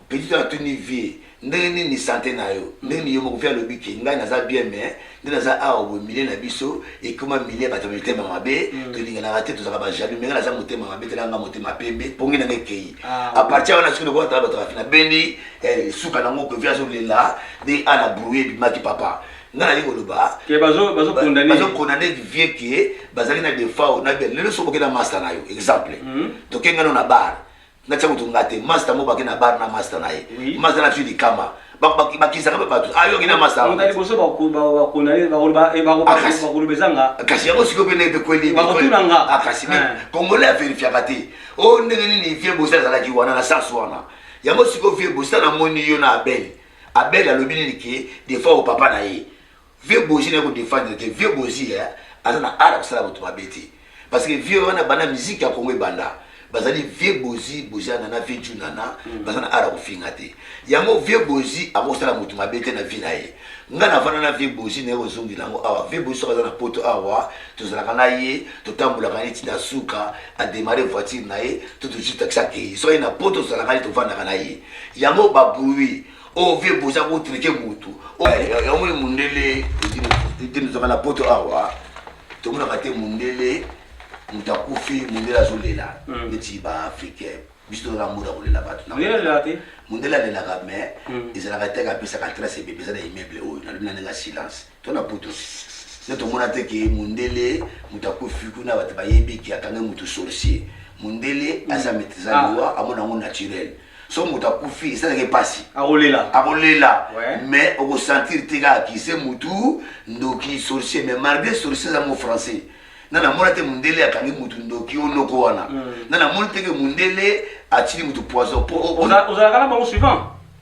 Petit oyo
atuni
vie ndenge nini sante na yo ndenge nini yo moko vie alobi ke ngai naza bien mais nde naza awa boye milieu na biso ekoma milieu ya bato ya mitema mabe tolinganaka te tozalaka ba jaloux mais ngai naza motema mabe tala ngai motema pembe pongi na ngai ekeyi a partir wana soki lokola tala bato ya fina bendi suka nango ke vie azolela nde ana brouille ebimaki papa nga naye koloba
bazokondane
vie ke bazali na defaut na bien lelo soki okenda masta na yo exemple tokengano na bar na tia kutu nga te masta mo bake na bar na masta na ye Oui. masta na biso likama bakisaka mpe bato ayoki na masta Mutu ya liboso bako- ba-
bakondane- bako- ba- eh, bako- Ah, kasi. bakoloba eza nga kasi yango sikoyo mpe nayebe
kweli Bakotuna nga. Ah, kasi me
Eh.
congolais averifiaka te o ndenge nini vie bosi azalaki wana na sas wana yango sikoyo vie bosi namoni yo na abel abel alobi nini ke defois o papa na ye Vieux Bozi na ko defendre te Vieux Bozi eh, aza na art ya kosala bato mabe te parce que Vieux wana banda musique ya Congo ebanda bazali Vieux Bozi Bozi Anana Vieux Ju Nana mm. baza na art ya kofinga te yango Vieux Bozi akosala moto mabe te na vie na ye nga navanda na Vieux Bozi naye kozongela yango awa Vieux Bozi soki aza na poto awa tozalaka na ye totambolaka ye tina suka ademare voiture na ye to tojutakisa kei soki aye na poto tozalaka ye tovandaka na ye yango babruit oyo oh, vie boza kotrike motu oh, eh, eh, yamoni mundele etinozaka na poto awa tomonaka te mundele moto akufi mundele azolela hmm. neti baafricain biso tozala mboda kolela bato mundele alelaka mais hmm. ezalaka te kapesaka trace ebebe eza na immeuble oyo nalobi na ndenge ya silence to na poto nde tomona te ke mundele moto akufi kuna bato bayebi ke akange moto sorcier mundele mm. aza maîtrise ah. loi amona yango naturel so moto akufi esalaka mpasi akolela akolela mais okosentir te kaka kise motu ndoki sorcier mais malgré sorcier eza mo français na namona te mundele akangi motu ndoki o noko wana mm. na namoni teke mundele atili motu poison po ozalaka na
bango suivant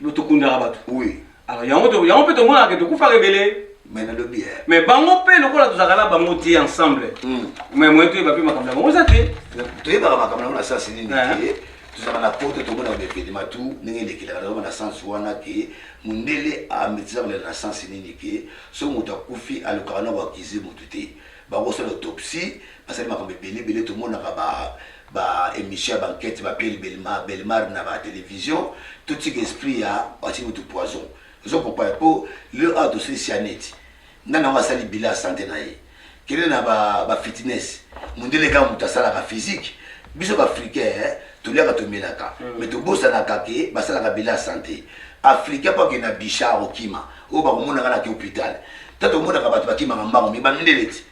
Yo tokundaka bato. Oui. Alors yango
to yango
pe tomonaka ke tokufaka ebele. Mais nalobi eh.
Mais bango pe lokola
tozalaka na bango te ensemble. Mm. Mais moyen toyeba pe makambo na bango eza te. Toyebaka makambo na
bango na sens nini te. tozalaka na poto tomonaka baevedema tu ndenge elekelaka nazoma na sens wana ke mondele ametisa kolela na sens nini ke soki moto akufi alukaka na koakize motu te bakosala autopsie basali makambo ebele ebele tomonaka ba ba emission ya ba enquete ba piel belmar belmar na ba television to tika esprit ya bati mutu poison ozo comprendre po leo awa tosili sia neti nga nango asali bilan ya sante na ye kende na ba ba fitness mundele kaka mutu asalaka physique biso ba africain eh, toliaka tomelaka mm. mais tobosanaka ke basalaka bilan ya sante africain po akende na bicha akokima oyo bakomonaka na ke hôpital ta tomonaka bato bakimaka mbango mi ba mindele ti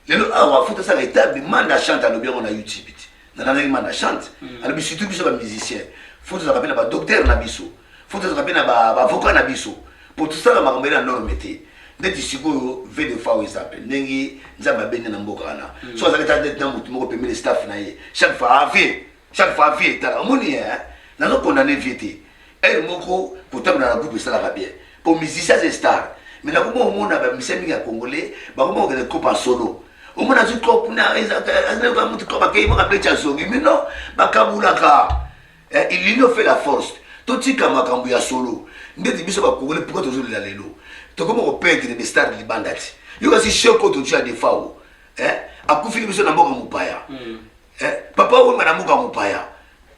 lelo awa afuta asala etable manda chante alobi yango na youtube ti nalandaki manda chante hmm. alobi surtout biso bamusicien fo tozalaka mpe na badoktere na biso fo tozalaka mpe na baavocat na biso mpo tosala makambo ele ya norme te ndeti sikoyo ve de fois eza mpe ndenge nzambe abende na mboka wana hmm. so azalaki ta ndeti na motu moko pembeni staff na ye chaque fois ave chaque fois vie etala omoni ye hein? nazo condamne vie te heure moko kotambola na groupe esalaka bien po musicien aza star me nakoma omona bamisien mingi ya congolais bakoma kokende groupe ya solo omona azwi trop na ezaka motu trop bakei moko abeti azongi mino bakabulaka eh, ilino fait la force totika makambo ya solo ndeti biso bakongole mpoka tozolela lelo tokoma kopedre bestar libanda ti yo kasi sheko totu ya defao eh, akufili biso na mboka mopaya hmm. eh, papa wemba na mboka mopaya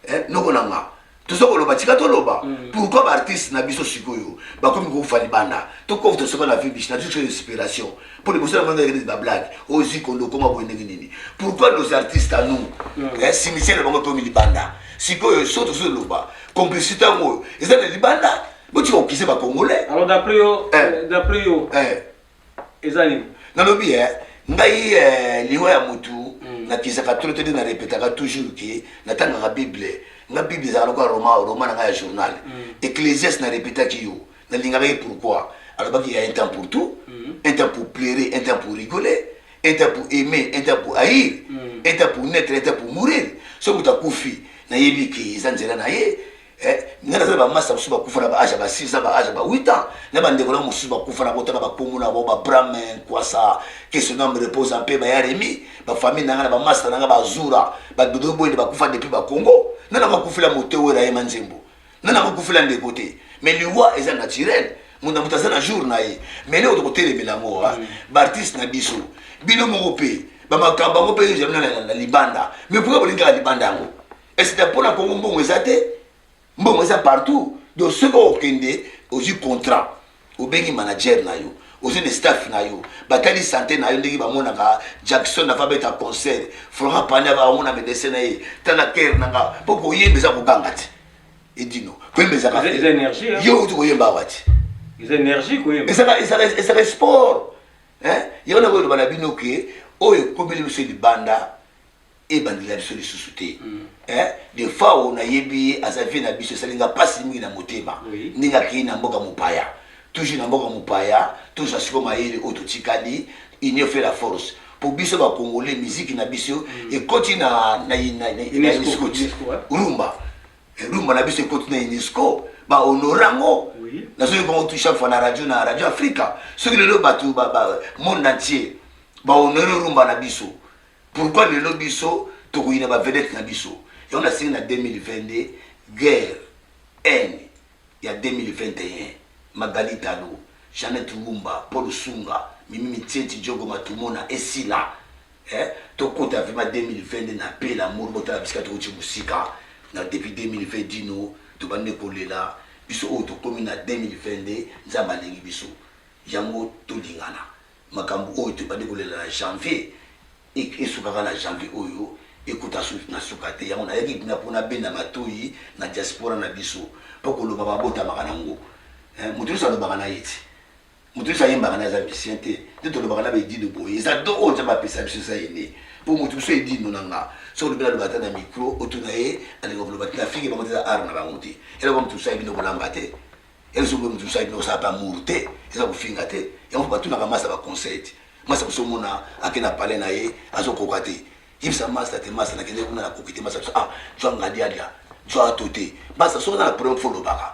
eh, noko na nga toza koloba tika toloba mm. pourquoi baartiste na biso sikoyo bakomi kokufa libanda tokof tosoba na vie biche na toujours inspiration mpo liboso na bango ekende bablague ozi kondo okoma boye ndenge nini pourquoi nos artistes à nous mm. eh, cimetière na bango ekomi libanda sikoyo so tozoloba complicité yango oyo eza na libanda botika kokise bacongolais alors d'après yo eh.
euh, d'après yo eh. eza nini nalobi eh,
ngai eh, liwa ya mutu mm. nakisaka trop tete na repetaka toujours ke natangaka bible nga bible ezalaka lokola roma roma na ngai ya journal mm. ecclesias na repetaki yo nalingaka ye pourquoi alobaki ya un temps pour tout mm. un temps pour pleurer un temps pour rigoler un temps pour aimer un temps pour haïr mm. un temps pour naître un temps pour mourir soki utakufi nayebi ke eza nzela na ye Eh, nga naza na bamasta mosusu bakufa na baage ya ba 6 ans baage ya ba 8 ans na bandeko na mosusu bakufa na botaka bakombo na bango babrame nkwasa kesonam repose mpe bayaremi bafamille na nga na bamasta na nga bazura badodo boyende bakufa depuis bakongo nana bakufela moto oyo nayema nzembo nana bakufela ndeko te mais liwa eza naturel moto na moto aza na jour na ye mais leo tokotelemela yango ah. baartiste na biso bino moko mpe bamakambo yango mpe jamina na libanda mais pourkua bolingaka libanda yango esita mpo na kongo mbongo eza te mbongo eza partout donc soki okende ozwi contrat obengi manager na yo ozwi na staff na yo batali sante na yo ndenge bamonaka jackson ava beta concert florent pani ava amona medecin na ye tala kere na nga mpo koyemba eza kobanga te edino koyemba ezaka yo oti
koyemba awa te ezaka
sport yango nakoyoloba na bino ke oyo ekobeli biso libanda ebandela biso lisusu te eh, defao nayebi ye aza vie na biso esali nga mpasi mingi na motema ndenge akei na mboka mopaya toujours na mboka mopaya tozwa siko mayele oyo totikali union fait la force mpo biso bakongole miziki na biso ekoti na unesco rumba eh, rumba na biso ekoti na unesco bahonore yango nazoki bango tu chaque fois na radio na radio afrika soki lelo bato monde entier bahonore rumba na biso Pourquoi lelo biso tokoyina ba vedette na biso yango nasengi na 2022 guerre haine ya 2021 Magali Talu Jeannette Wumba Paul Sunga Mimi Mitieti Diogo Matumona esila eh, tokota vraiment 2022 na paix l'amour botala bisika tokoti mosika na depuis 2020 dino tobandi kolela biso oyo tokomi na 2022 nzambe alingi biso yango tolingana Makambu oyo tobandi kolela na janvier et esuka kaka na janvier oyo ekota suite na suka te yango nayaki kuna po nabenda matoyi na diaspora na biso po koloba babotamaka na ngo eh mutu nionso alobaka na ye te mutu nionso ayembaka na ye aza musicien te nde tolobaka na ba edino boye eza don oyo nzambe apesa biso eza ye nde po mutu mosusu edino na nga soki olobi naloba ata na micro otuna ye alinga koloba te na fingi bango te eza art na bango te eloko mutu mosusu ayebi nde kolamba te Elzo boye mutu mususu ayebi na kosala pe amour te eza kofinga te yango pe batunaka masta ba conseil te masta biso omona ake na palais na ye azokoka te yebisa masta te masta nakende kuna nakoki te masta biso ah zwa ngadiadia zwa ato te masta soki oza na problème fo olobaka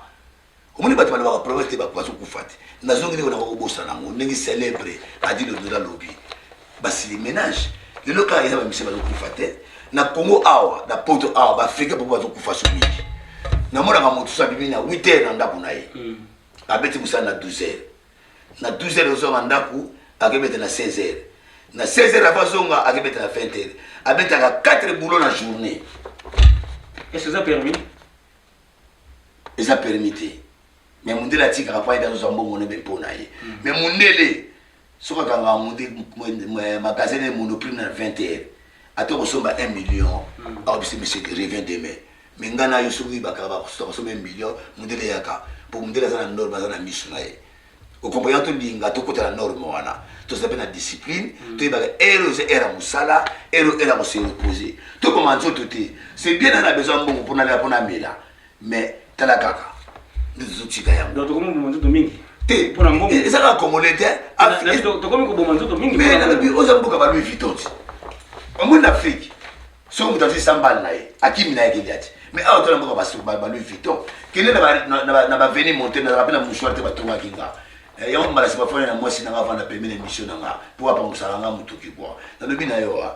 omoni bato balobaka problème te bazokufa te nazongi ndenge nakoki kobosana yango ndenge célèbre adilo ndola lobi basili menage lelo kaka eza bamisi bazokufa te na congo awa na poto awa baafrika mpo bazokufa so mingi namonaka moto so abimi na 8 heure na ndako na ye hmm. abeti mosala na 12 heure na 12 heure ozonga ndako akebeta na 16 heure na 16 heure ava azonga akebeta na 20 heure abetaka 4 boulot na journée
est-ce eza permis
eza permis te mais mondele atikaka mpo ayede azozwa mbongo nebe mpo na ye mais mondele Soki akanga magasin naye monoprix na 20 heures ata okosomba 1 million akobisa monsieur te revient demain mais nga na yo soki oyibaka bakosomba 1 million mundele yaka po mundele aza na norme aza na misu na ye okomprena tolinga tokota na norme wana tozala mpe na discipline mm. toyebaka ere oza ere ya mosala ere ere ya kose repose toboma nzoto te c'est bien na na besoin mbongo mpo nalela mpo namela mais tala kaka nde tozotika yango donc tokomi koboma nzoto mingi
te mpo na mbongo
eza kaka
congolais
te tokomi
koboma nzoto mingi mais nalobi oza mboka ba
louis vuitton ti omoni na afrique soki moto azwi sambale na ye akimi na ye kende ati mais awa tala mboka ba louis vuitton kende na baveni monte nazala mpe na mouchoir te batongaki nga eh, yango mbalasi bafani na mwasi na nga avanda pembe na émission na nga mpo apangusalanga motuki bwa nalobi na yo wa ah.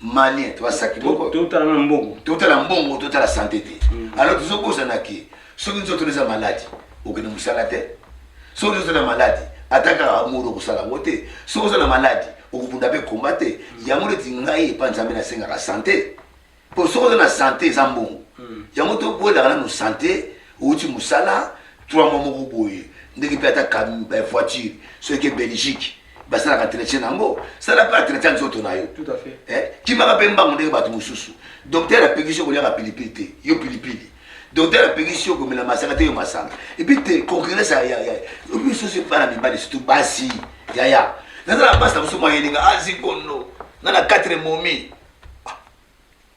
malien to basaki boko totala na mbongo
totala mbongo totala
sante te mm. alors tozobosana ke soki nzoto eza maladi okende mosala te soki nzoto na maladi ata kaka moro okosala yango te soki oza na maladi okobunda mpe komba te mm. yango neti ngai epa nzambe nasengaka sante mpo soki oza na sante eza mbongo mm. yango tokwelaka nano sante outi mosala 3 mwa moko boye ndenge mpe ata voiture soki eke belgique basalaka entretien na yango sala mpe entretien nzoto na yo eh,
kimaka mpe mbangu ndenge
bato mosusu doktere apekisi yo kolyaka pilipili te yo pilipili doktere apekisi yo komela masanga te yo masanga epuis te concurrence yayaobisosi bana mibali surtout basi yaya nazala basi na mosusu mwayelinga azikondo ah, nga na 4 momi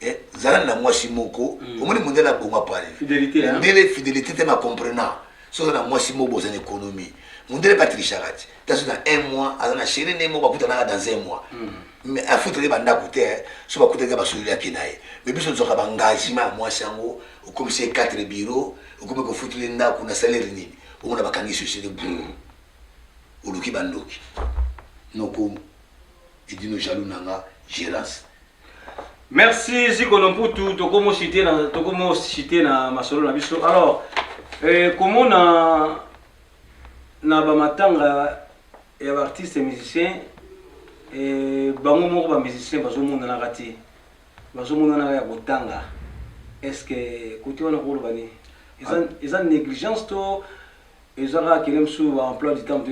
Eh, zala na mwasi moko mm. omoni mondele abonga pale mondele
fidelité te na
comprena soki oza na mwasi moko bozana économie mondele batrishaka ti taso na un mois aza na chéri nde moko bakutanaka dans un mois mm. mais afutaki bandako te eh. so bakutaki basololi yaki na ye mais biso tozwaka baengagement ya mwasi yango okomisi ye 4 bureau okomi kofutuli ndako na salaire nini omona bakangi société bru oluki bandoki nokomi Edino jaloux na nga gerance.
Merci Zikono Mputu tokomo citer na tokomo citer na masolo na biso. Alors eh, komona na ba matanga ya ba artistes musiciens eh, bango moko ba musiciens bazomonanaka te bazomonanaka ya kotanga est-ce que kote wana koloba nini eza, eza négligence to Eza kaka kende mosusu ba emploi du temps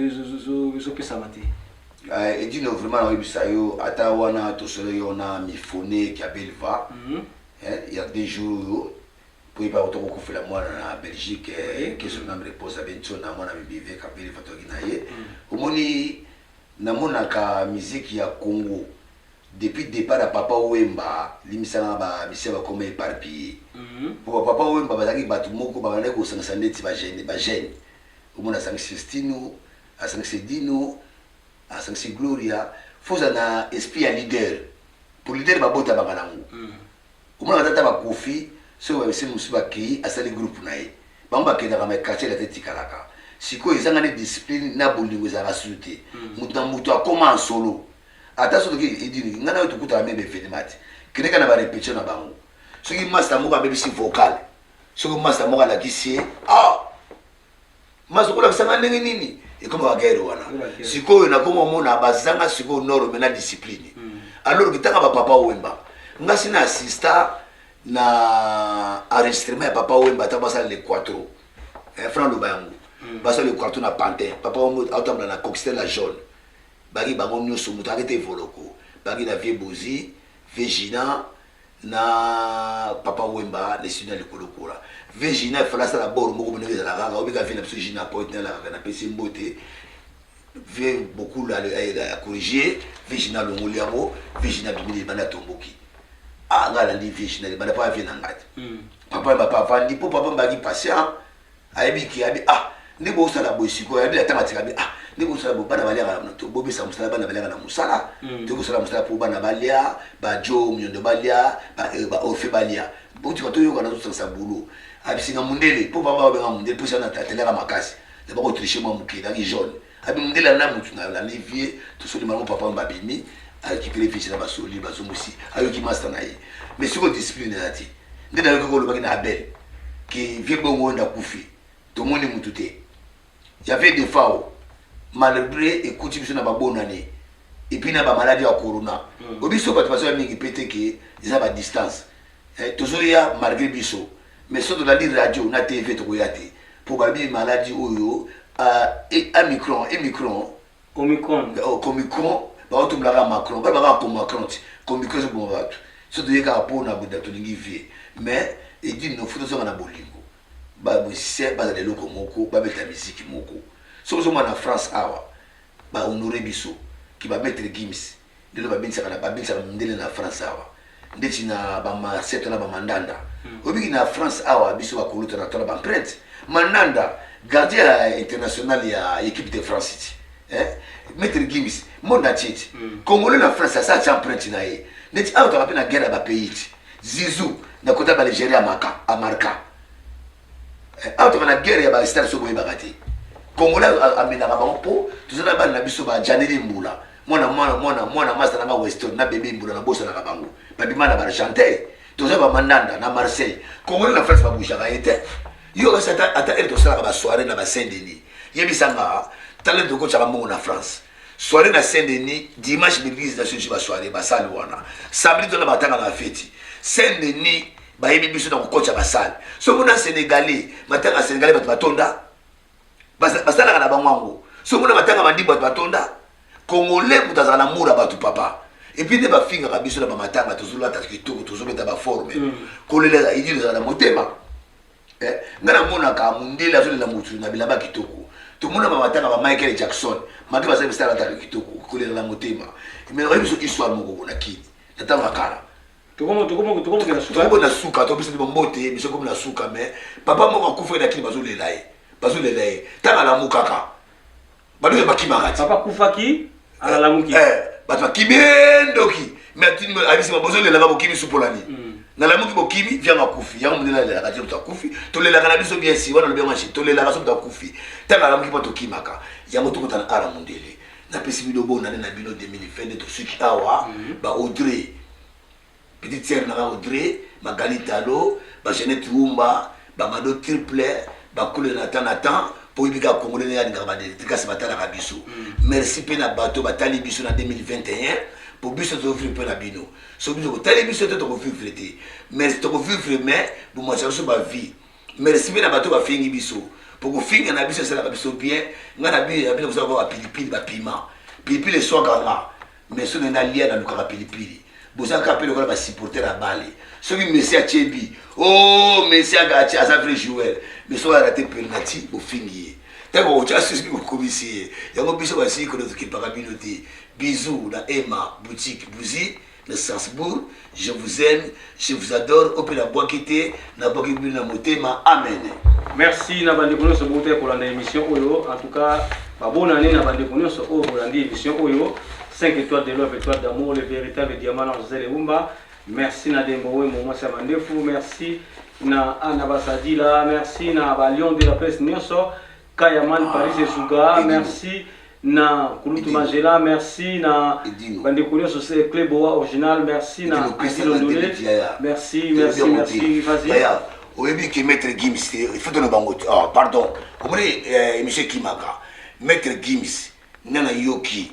ezopesama te. Eh, edino
vraiment nakoyebisa yo ata wana tosolo yo na mifone kia belva mm -hmm. eh, ya deux jours oyo mpo ye bakota kokufela mwana na belgique eh, que son ame repose abe nso na mwana mibive kabeli vatoki na ye mm. omoni namonaka miziki ya congo Depuis depart ya papa wemba limbisa nga ba musiciens bakoma eparpille po ba papa wemba bazalaki batu moko babandaki kosangisa ndeti ba jeunes ba jeunes omona asangisi stino asangisi dino asangisi gloria faut ozala na esprit ya leader po leader babotamaka nango Omona kata ata ba koffi soki ba musiciens mususu ba keyi asali groupe naye bango ba kendaka mais quartier latin etikalaka sikoyo ezanga nde discipline na bolingo ezalaka susu te mutu na mutu akoma en solo ata soki toke edingui nga nayo tokutana meme ba evenement te kende kaka na ba repetition na bango soki masta moko abebisi vocal soki masta moko alakisi ye ah mazo kolakisa nga ndenge nini ekoma bagere wana sikoyo nakoma omona bazanga sikoyo norme na discipline hmm. alors kitanga bapapa wemba ngasi na assista na enregistrement ya papa wemba ata basala le quatro eh, franc loba yango hmm. basala le quatro na pantin papa wemba aotambula na coxtel la jaune baki bango nyonso moto akete evoloko baki na vie bozi vie gina na papa wemba le sina likolo kola ve jina efala asala bor moko bino ezala kaka obika ve na biso jina poet na lakaka na pesi mbote ve beaucoup la ya corriger ve jina longoli yango ve jina bimili libanda tomboki a ah, nga landi ve jina libanda pa ve na ngati hmm. papa wemba pa vandi po papa mbaki patient ayebi ki abi ah nde bosala boye sikoyo yabi ata matika bi ah nde bosala boye bana baliaka bobesa mosala bana baliaka na mosala mm. to kosala mosala mpo bana balia bajo miondo balia baofe eh, balia botika toyokana tosangisa bulo abisinga mundele mpo baba babenga mundele mpo sana atelaka makasi na bakotriche mwa moke ezalaki jaune Abi mundele ana mutu na landi vie tosoli bango papa mba bimi arekipere vie na basoli bazumusi ayoki masta na ye mais siko discipline eza te nde nayoki ko olobaki na abel ke vie bongo oyo ndakufi tomoni mutu te yave defao malgré ekuti biso na babonane epuis na bamaladi ya corona hmm. obiso bato bazoya mingi pe te ke eza badistance Eh tozoya malgre biso mais soki tolandi radio na TV tokoya te po balobi maladi oyo ah amicron emicron Omicron oh comicron baotumbola kaka macron baloba kaka comacron ti comicron ezoboma batu soki toye kaka po na boda tolingi vie mais edine no faut tozonga na bolingo ba musicien bazala eloko moko babeta miziki moko soki ozomona na France awa ba honore biso ki ba maitre Gims Ndele babenisaka na babenisaka mundele na France awa ndeti na ba marseille to na ba mandanda oyebi ki na France awa biso ba kuluta na to na ba empreinte mandanda gardien ya international ya equipe de France ti eh maître Gims monde entier ti congolais na France asa atia empreinte na ye ndeti awa tozalaka mpe na guerre ya ba pays ti zizou na kota ba Nigeria amaka amarka Eh, awa toka na guerre ya ba stade so boyebaka te congolais amenaka bango mpo toza na bana na biso ba janeli mbula mwana mwana mwana mwana masta nanga weston na bebe mbula nabosanaka bango babima na baargentin toza bamandanda na marseille congolais na france babouchaka ye te yo kasi ata ele tosalaka basoirée na basaint denis yebisanga talent tokotyaka mbongo na france soirée na saint denis dimanche l'église na sosi basoirée basali wana samedi tona batanga na feti saint denis bayebi biso na kokotisa basale soki mona senegalais matanga ya senegalais bato batonda basalaka na bango yango soki mona matanga mandi bato batonda congolais moto azala na mura bato papa epuis nde bafingaka biso na bamatanga tozolata kitoko tozobeta baforme mm. kolela idi ezala na motema eh, ngai namonaka mondele azolela motu na bilamba kitoko tomona bamatanga ba michael jackson maki bazali bisalataka kitoko kolela na motema emelaka biso histoire moko bona kini na ntango ya kala tokomi tokomi
tokomi na suka tokomi na suka to biso
bombote biso komi na suka mais papa moko akufa na kini bazolela ye bazolela ye ntango alamukaka baluka bakimaka ti papa akufaki
eh, alalamuki eh, bato bakimi
endoki mais abisi bozolelaka bokimi supolani mm. nalamuki bokimi vianga akufi yango mundele alelaka ti moto akufi tolelaka na biso bien si wana lobi yango tolelaka so moto akufi ntango alamuki mpo tokimaka yango tokutana ala mundele napesi bino bonane na bino 2022 tosuki awa ba audrey petite sere nanga audrey magali talo ba jeannette wumba bamado triple bakule na temps na temps mpo oyebi kaka congolais ndenge alingaka badelikasi batalaka biso merci mpe na bato batali biso na 2021 mpo biso tozovivre mpo na bino so biso kotali biso te tokovivre te mais tokovivre mais bomatisa biso bavie Merci pe na bato ba fingi biso po kofinga na biso esalaka biso bien nga na biso ya bino kozala ba pilipili ba piment pilipili eswaka nga mais soki na lia na lukaka pilipili boza kaka pe lokola ba supporter ya bale soki Messi atie bi oh Messi aga atie aza vrai joueur mais soki arate penalty bofingi ye tango okotia susi bokomisi ye yango biso basili kolokipaka bino te bisous na Emma boutique bougie na Strasbourg je vous aime je vous adore ope na bwaki te na bwaki bino na motema amen merci na
bandeko nyonso bouta kolanda émission oyo en tout cas babona ane na bandeko nyonso oyo bolandi émission oyo 5 étoiles de love étoile d'amour le véritable diamant na josé lebumba merci na dembo wemo mwasi ya mandefu merci na ana basadila merci na balion de la presse nyonso Kayaman Paris Esuga, merci na Kulutu Magela, merci na bandeko nyonso se Club Oa Original, merci na Adilo Ndule, merci, merci, merci, vas-y. oyebi ke
maître gims te ifoto na bango oh, pardon omoni eh, émission ekimaka maître gims nga nayoki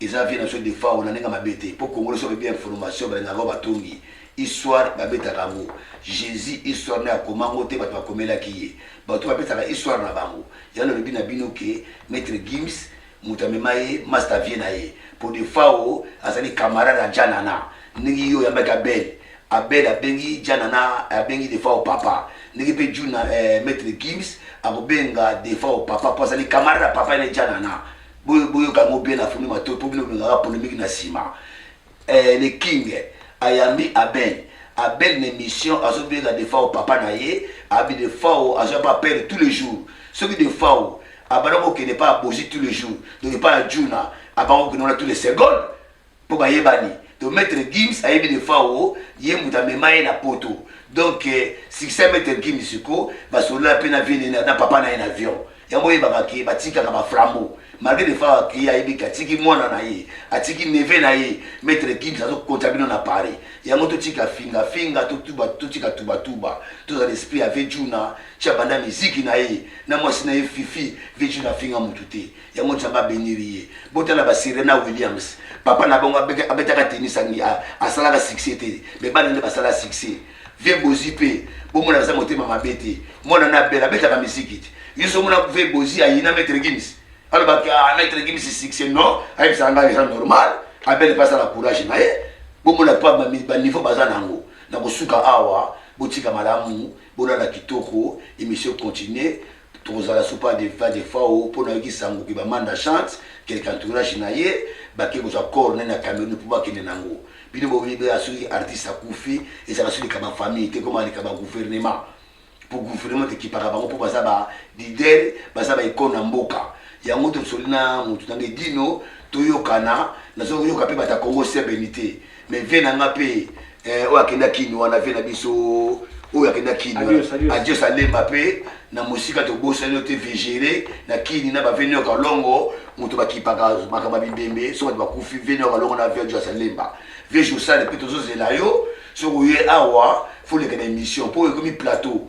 Eza vie nazo defao na ninga mabe te po congolais soki bien information balingaka oyo batongi histoire babetaka yango Jesus histoire naye akoma ngo te batu bakomelaki ye batu babetaka histoire na bango ya nalobi na bino ke maitre Gims mutu amema ye masta vie na ye po defao azali camarade ya Djanana ndenge yo oyambaki Abel Abel abengi Djanana abengi defao papa ndenge pe Djuna eh, maitre Gims akobenga defao papa po azali camarade ya papa ene Djanana Boyo boyo ka ngo bien afungi matoyi po bino bengaka polemique na sima eh, le king ayambi abel abel na emission azobenga defao papa na ye abi defao azoya pa pere tous les jours soki defao abanda kokende pa abozi tous les jours donc epa ya juna abanda kokende wana tous les secondes po bayebani to maître Gims ayebi Defao ye mutu amema ye na poto donc eh, succès maître Gims siko basolola pe na vie nene na papa na ye na avion yango oyebaka ke batikaka ba flambo malgré Defao akei ayebi ke atiki mwana na ye atiki neve na ye maître Gims azokota bino na Paris yango totika finga finga totuba totika tuba tuba tozala esprit ya Vejuna tia banda miziki na ye na mwasi na ye Fifi Vejuna finga mutu te yango nzambe abeniri ye botala ba serena williams papa na bango abetaka tennis asalaka succès te me bana nde basala succès vie bozi mpe bomona aza motema mabe te mwana na bela abetaka miziki te yesu omona vie bozi ayina maitre gims alobaki ah, maitre gims succès non ayebisaka ngai eza normal abele mpe asala courage na ye bomona pa baniveau baza na yango na kosuka awa botika malamu bolala kitoko emission continue Tokozala sous pas de va de fao mpo nayoki sango que ba Manda chante quelque entourage na ye bake kozwa corps na ye na Cameroun mpo bakende na ngo. Bino boyebela soki artiste akufi ezalaka soki leka ba famille te ekoma leka ba gouvernement mpo gouvernement ekipaka bango mpo baza ba leader baza ba icone na mboka. Yango tosoli na mutu na ngai Dino toyokana nazo yoka mpe bata Congo sebene te. Mais vie na nga pe eh, oyo akenda kin wana vie na biso oyo akenda kin Adios, adios. adios alemba pe na mosika tobosani yo te vigere na kini na baveni ya kalongo moto bakipaka makambo ya bibembe so bato bakufi veni ya kalongo na vie adios alemba vie josale pe tozozela yo soki oye awa foleka na émission mpo ekomi plateau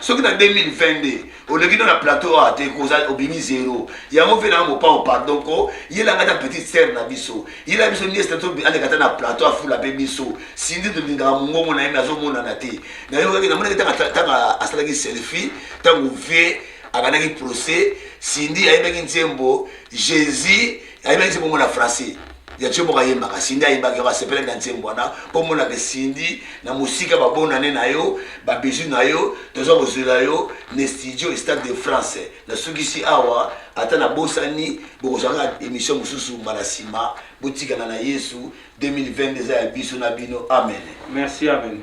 soki na 2022 oleki no na plateau awa te koza obimi zero yango mpe na mopao pardon ko yela ngai ta petite sere na biso yela biso niese na biso aleka ta na plateau afula mpe biso sindi tolingaka mongongo na ye me azomonana te nayokaki namonaki ntango asalaki selfie ntango vie akandaki procès sindi ayebaki nzembo jésus ayebaki se bongo na français ya tio moko ayembaka sindi ayembaki yo asepelaki na nzembo wana mpo omonaka sindi na mosika babonane na yo babizu na yo toza kozela yo na studio stade de france nasukisi awa ata nabosani bokozwaka émission mosusu mbala nsima botikana na yesu 2020 eza ya biso na bino amen
merci
amen